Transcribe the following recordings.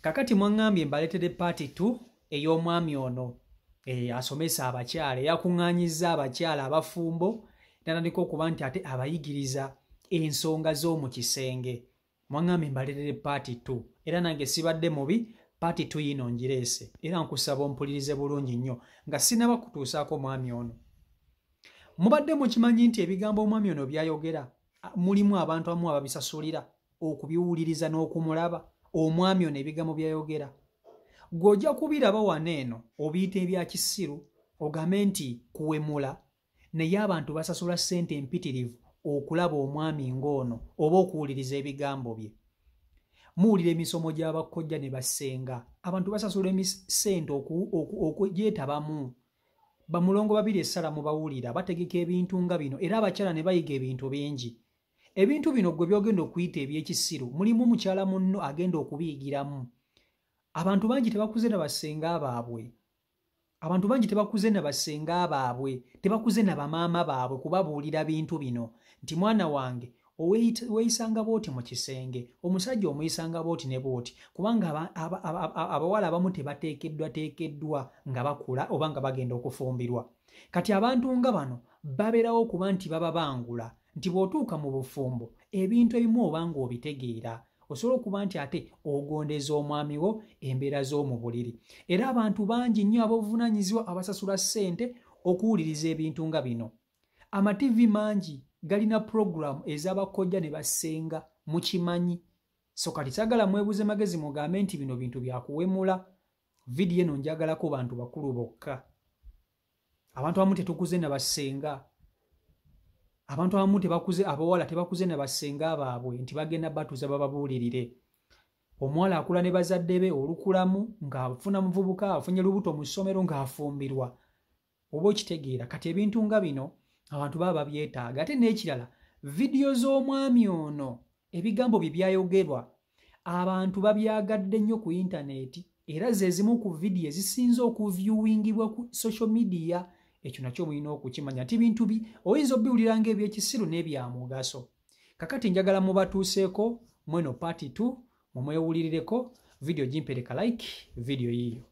kakati mwaŋŋambye mbaletede paati t ey'omwami ono eh, asomesa abakyala eyakuŋŋanyiza abakyala abafumbo natandika okuba nti ate abayigiriza ensonga z'omu kisenge mwaŋŋambye mbaletede paati t era nange sibadde mubi paati t yino ngireese era nkusaba ompulirize bulungi nnyo nga sinaba kutuusaako omwami ono mubadde mukimanyi nti ebigambo omwami ono byayogera mulimu abantu amu ababisasulira okubiwuliriza n'okumulaba omwami ono ebigambo byayogera gwe ojja kubiraba wano eno obiyita ebya kisiru ogambe nti kuwemula naye abantu basasula ssente empitirivu okulaba omwami ng'ono oba okuwuliriza ebigambo bye muwulira emisomo gy'abakkojja ne bassenga abantu basasula emisente okugyetabamu bamulongo babiri essala mu bawulira bategeka ebintu nga bino era abakyala ne bayiga ebintu bingi ebintu bino gwe byogenda okuyita ebyekisiru mulimu mukyala munno agenda okubiyigiramu abantu bangi tebakuze na basenga baabwe abantu bangi tebakuze na basenga baabwe tebakuze na bamaama baabwe kubabuulira bintu bino nti mwana wange weeyisanga booti mu kisenge omusajja omuyisanga booti ne booti kubanga abawala abamu tebateekeddwateekeddwa nga bakula oba nga bagenda okufumbirwa kati abantu nga bano babeerawo kuba nti baba bangula nti bw'otuuka mu bufumbo ebintu ebimu oba ng'obitegeera osobola okuba nti ate ogondeza omwami wo embeera z'omu buliri era abantu bangi nnyo ab'obuvunaanyizibwa abasasula ssente okuwuliriza ebintu nga bino amativi mangi galina pulogulaamu ez'abakojja ne basenga mukimanyi so kati sagala mwebuze magezi mugambe nti bino bintu byakuwemula vidiyo eno njagalako bantu bakulu bokka abantu abamu tetukuze na bassenga abantu abamu tebakuze abawala tebakuze na bassenga baabwe nti bagenda batuza bababuulirire omuwala akula ne bazadde be olukulamu ng'afuna muvubuka afunye lubuto mu ssomero ng'afumbirwa oba okitegeera kati ebintu nga bino abantu baba babyetaaga ate n'ekirala vidiyo z'omwami ono ebigambo bye byayogerwa abantu babyagadde nnyo ku intaneeti era ze zimu ku vidiyo ezisinze okuvyuwingibwa ku social media ekyo nakyo mulina okukimanya ti bintu bi oyinza obiwulira nga ebyekisiru n'ebyamugaso kakati njagala mubatuuseeko mweno paati t mumwewulirireko vidiyo gimpereka like vidiyo yiiyo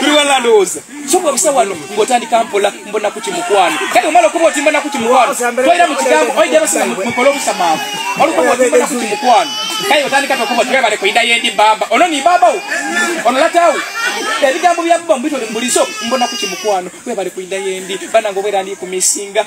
tuliwalandowoza soka busa wano ngotandika mpola mbona kuti mukwano kati omala okuba oti mbona kuti mukwano toyira mu kigambo oyidde basima mukola obusamaavu olukuba oti mbona kuti mukwano kati otandika tokuba oti webale kuyinda yendi bamba ono ni bambawo ono latawo ebigambo bya bba mubitole mubulizo mbona kuti mukwano webale kuyinda yendi banange obwera ndi kumisinga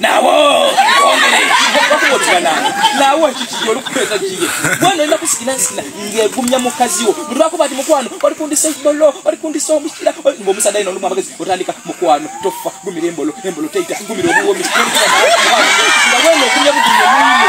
nawo nawo kiki olikukweza kiye mwana olina kusikinasina ngegumya mukazi wo mulwakuba ti mukwano oli kundisa embolo oli kundisa omukira ngaomusadde alina olumu amagezi otandika mukwano tofa gumira embolo embolo teita gumira obuwomi nga wena ogumya bugumya mwine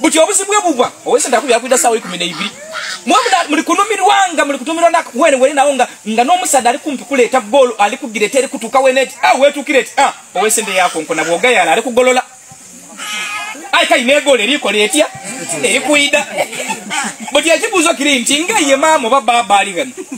buti obuzibu bwe bubwa owese ndaku yakuida sawa ikumi na ibiri mwe muli kunumirwanga muli kutumirwa na wene wene nawo nga nga n'omusaadde ali kumpi kuleeta bboolo ali kugireta eri kutuuka wene eti a ah, weetuukira eti a ah, owese nde yakonko na bwogayala ali kugolola ayi kayina egoolo erikola etya erikuida buti ekibuuzo kiri nti nga ye maama oba baaba ali wena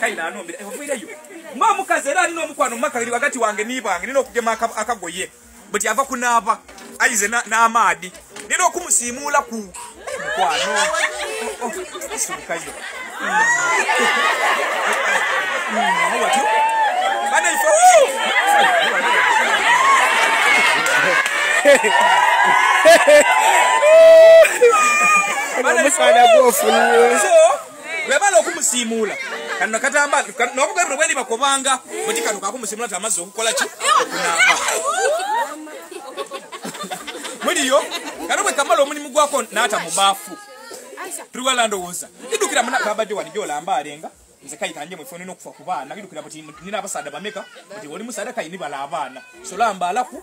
kaina anombera evuireyo mba omukazi era alina omukwano mumaka iri wakati wange nibange nina okugema akagoye but yava kunaba ayize n'amaadi nina okumusiimuula ku eh, mukwano oh, oh, sibukayo watyo banaife Mwana mwana gwofu nyo. webala okumusiimuula kano katamba nobugabi buno bwendi bakobanga buti kano kakumusiimuula ti amazzi okukola ki okunaaba muliyo kano bwe kamala omulimu gwako naata mu baafu tuli wala ndowooza ndidukira munababadde wani gyolamba alenga nze kayita nje mwefuna ina okufa ku baana ndidukira buti nina abasaada bameka buti oli musaada kayini bala abaana solamba alaku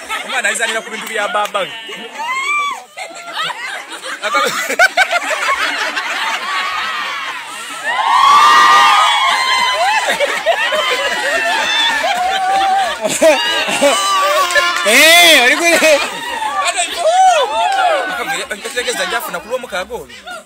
omwana ayizanira ku bintu bya baba eh, olikule ategeza njafuna kulwomukaga oyo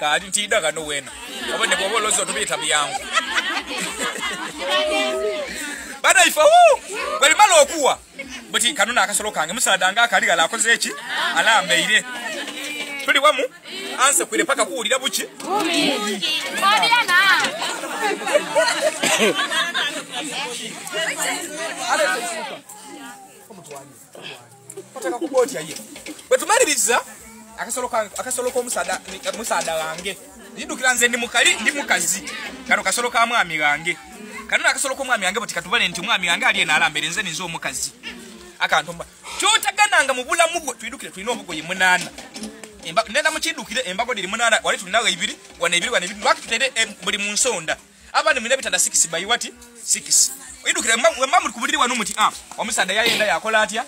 kali ntida kano wena oba ne bwoba olowooza otubiyita byangu bana ife wu bwe limala okuwa buti kano naakasolo kange musaada nga akali gala akoze eki alambeire tuli wamu anse kwire paka kuwulira buki Thank you. oteka kuba otya ye bwe tumaliriza akasolo k'omusaada wange ndidukira nze ndi mukali ndi mukazi kano kasolo ka mwami wange kano nakasolo k'omwami wange bwe tekatubale nti omwami wange ali enaalambere nze ninze omukazi akantu kyotagananga mu bulamu bwo twidukire tulina obugoye munaana nenda mukidukire embago diri munaana wali tulinawo ebiri wana ebiri wana ebiri lwaki tutere eh, buli mu nsonda abana mulina bitanda sikisi bayi wati sikisi idukire wemba muli kubuliri wanu muti a ah, omusaada yayenda yakola atya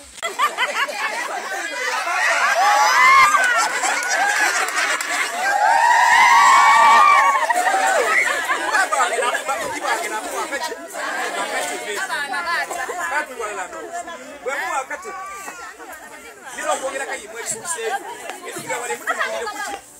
Nilo kuongera kayi mwe sukse. Nilo kuongera kayi mwe sukse.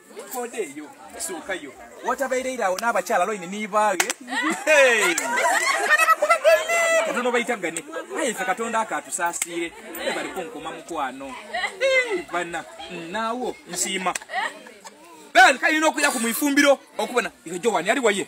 Koda eyo esooka yo watabeereira awo n'abakyala loini nibaage katonda obayita gane aye fe katonda ako atusaasiire ebaliko nkuma mukwano bana naawo nsiima ben kalina okuya ku mwifumbiro okubona eyo jowani ali waye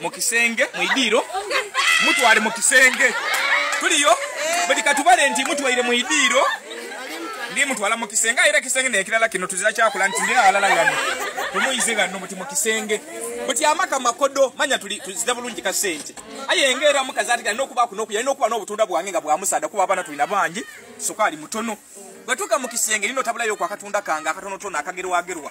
mu kisenge mu idiiro mutwale mu kisenge tuliyo buli katubale nti mutwaire mu idiiro ndi mutwala mu kisenge era kisenge nekirala kino tuzira kyakula nti ndi awalala gano tumuyize gano muti mu kisenge buti amaka makodo manya tuli tuzira bulungi ka sente aye ngera mu kazati gano kuba kuno kuyali nokuba n'obutunda bwange nga bwa musada kuba abana tulina bangi sukali mutono batuka mu kisenge lino tabula yo kwa katunda kanga akatono tona akagerwa gerwa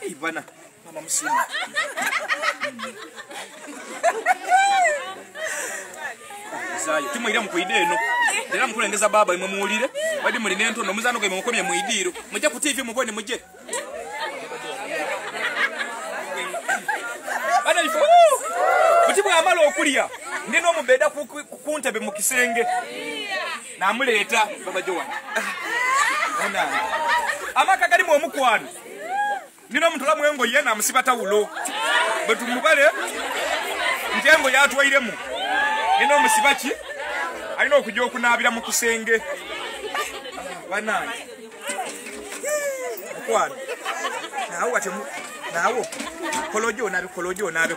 Hey, bwana mama msima zayo tumwira mukuide eno era mukulengeza baba imwe muwulire badi muli nentono omuzano gwe mukomye muidiiro mujje ku tv mubone mujje bana ifo buti bwamala okulya ndi n'omubeeda ku ntebe mu kisenge namuleeta babajo wange amaka galimu omukwano nina omutula mwengo ye namusiba tawulo bwetumubale nti engo yatwairemu nina omusiba ki alina okuja okunaabira mu kisenge banange mukwano nawe watemu nawe kolojo onabe kolojo onabe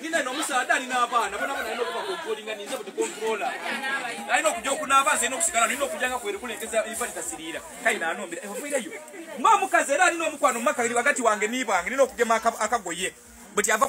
nina nomusaadha alina abaana bonabona alina okuba kontrolinga ninze buti kontrola alina okuja okunaaba nze nokusigala nina okujanga kwerekulengeza iva litasiriira kaina anombera evairayo eh, nga omukazi era alina omukwano mumaka iri wakati wange nibwange nina okugema akagoye buti ava